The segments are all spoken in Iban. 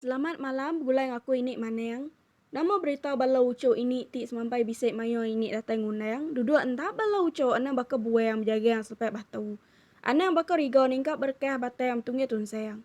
Selamat malam begulai enggau aku ini maneng. Nama berita bala uchu ini ti semampai bisi mayuh ini datai ngundang duduk enda bala uchu anang baka buang bejagang selepai batu. Anang baka riga ningkap berkah batang betunggih tunsang.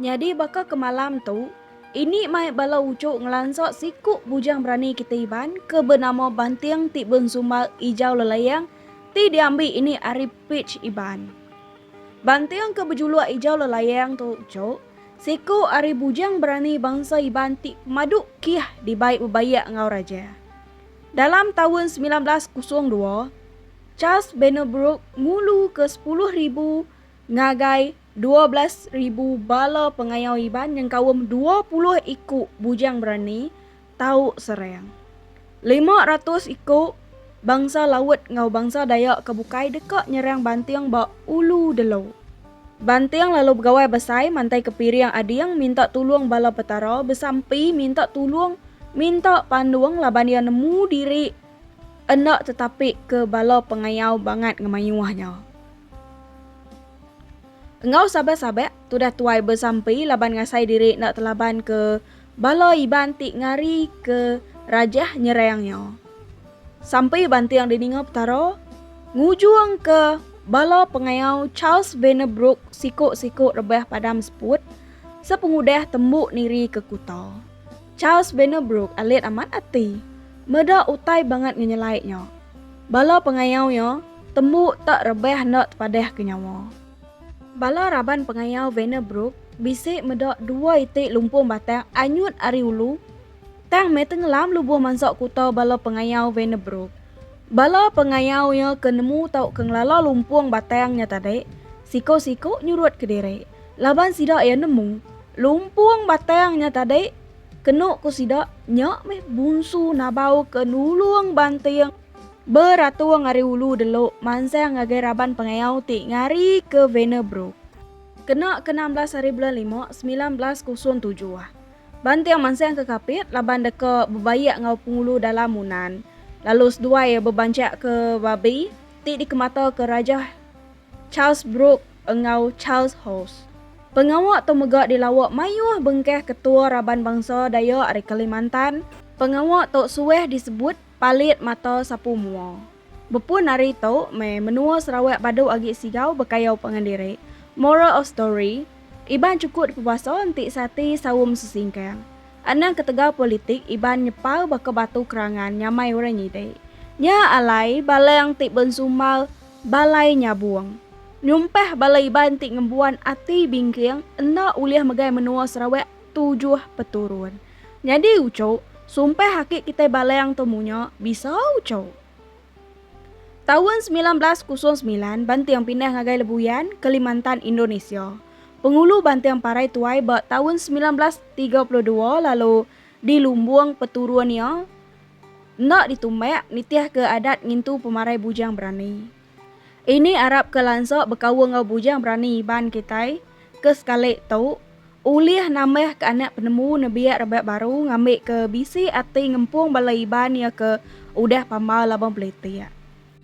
Nyadi baka ke malam tu, ini mai bala uchu ngelansa siku bujang berani kita Iban ke benama Banting ti bensumbar Ijau Lelaing ti diambi ini ari page Iban. Banting ke bejuluk Ijau Lelaing tu uchu siku ari bujang berani bangsa Iban ti pemadu kih dibai bebaik enggau raja. Dalam taun semilan belas kosong dua, Charles Bennerbrook ngulu ke sepuluh ribu ngagai dua belas ribu bala pengayau Iban nyengkaum dua puluh iku bujang berani tau serang. Lima ratus iku bangsa laut enggau bangsa Dayak ke bukai deka nyerang Banting ba Ulu Delo. Banting lalu begawai besai mantai ke piring ading minta tulung bala Petara besampi minta tulung minta pandung laban iya nemu diri enda tetapi ke bala pengayau bangat ngemayuh nya. Enggau sabak-sabak, tudah tuai besampi laban ngasai diri enda telaban ke bala Iban ti ngari ke rajah nyerang nya. Sampi banting dininga Petara ngujung ke bala pengayau Charles Vannerbroek siku-siku rebah padam seput sepengudah tembu niri ke kuta. Charles Benerbrook alit amat ati meda utai bangat ngenyelai nya. Bala pengayau iya tembu tak rebah enda tepadah ke nyawa. Bala raban pengayau Venerbrook bisi meda dua iti lumpung batang anyut ari ulu tang meh tengelam lubuh mansa kuta bala pengayau Venerbrook. Bala pengayau iya ke nemu tauka ngelala lumpung batang nya tadi siko-siko nyurut kediri laban sida iya nemu Lumpung batang nya tadi, kenu ku sida, nya meh Bunsu Nabau ke nulung Banting beratung ari ulu delu mansang ngagai raban pengayau ti ngari ke Venerbrook. Kena ke enam belas hari bulan lima, semilan belas kosong tujuh, Banting mansang ke Kapit laban deka bebaik enggau Pengulu Dalam Munan lalu seduai bebanchakka babi ti dikemata ke Rajah Charles Brooke enggau Charles Howes. Pengawa tu mega dilawa mayuh bengkah ketua raban bangsa Dayak ari Kalimantan. Pengawa tu suah disebut Palit Mata Sapu Mua. Bepun ari tu meh menua Sarawak badu agi sigau bekayau pangan diri. Moral of story, Iban chuku dipebasa enti seati saum sesingkang. Anang ketegal politik Iban nyepal baka batu kerangan nyamai orang nyidi. Nya alai balang ti bensumbar Balai Nyabong. Nyumpah bala Iban ti ngembuan ati bingking enda ulih megai menua Sarawak tujuh peturun. Nyadi ucuk, sumpah aki kitai Balang tu munya bisa ucuk. Taun semilan belas kosong semilan Banting pindah ngagai Lebuyan, Kalimantan, Indonesia. Pengulu Banting parai tuai ba taun semilan belas tiga puluh dua lalu dilumbung peturun iya. Enda ditumbak nitihka adat ngintu pemarai bujang berani. Ini arap ke lansa bekaul enggau bujang berani Iban kitai ke sekali tu ulih nambah ke anak penemu nebiak rebak baru ngambika bisi ati ngempung bala Iban iya ke udah pambai laban belitik.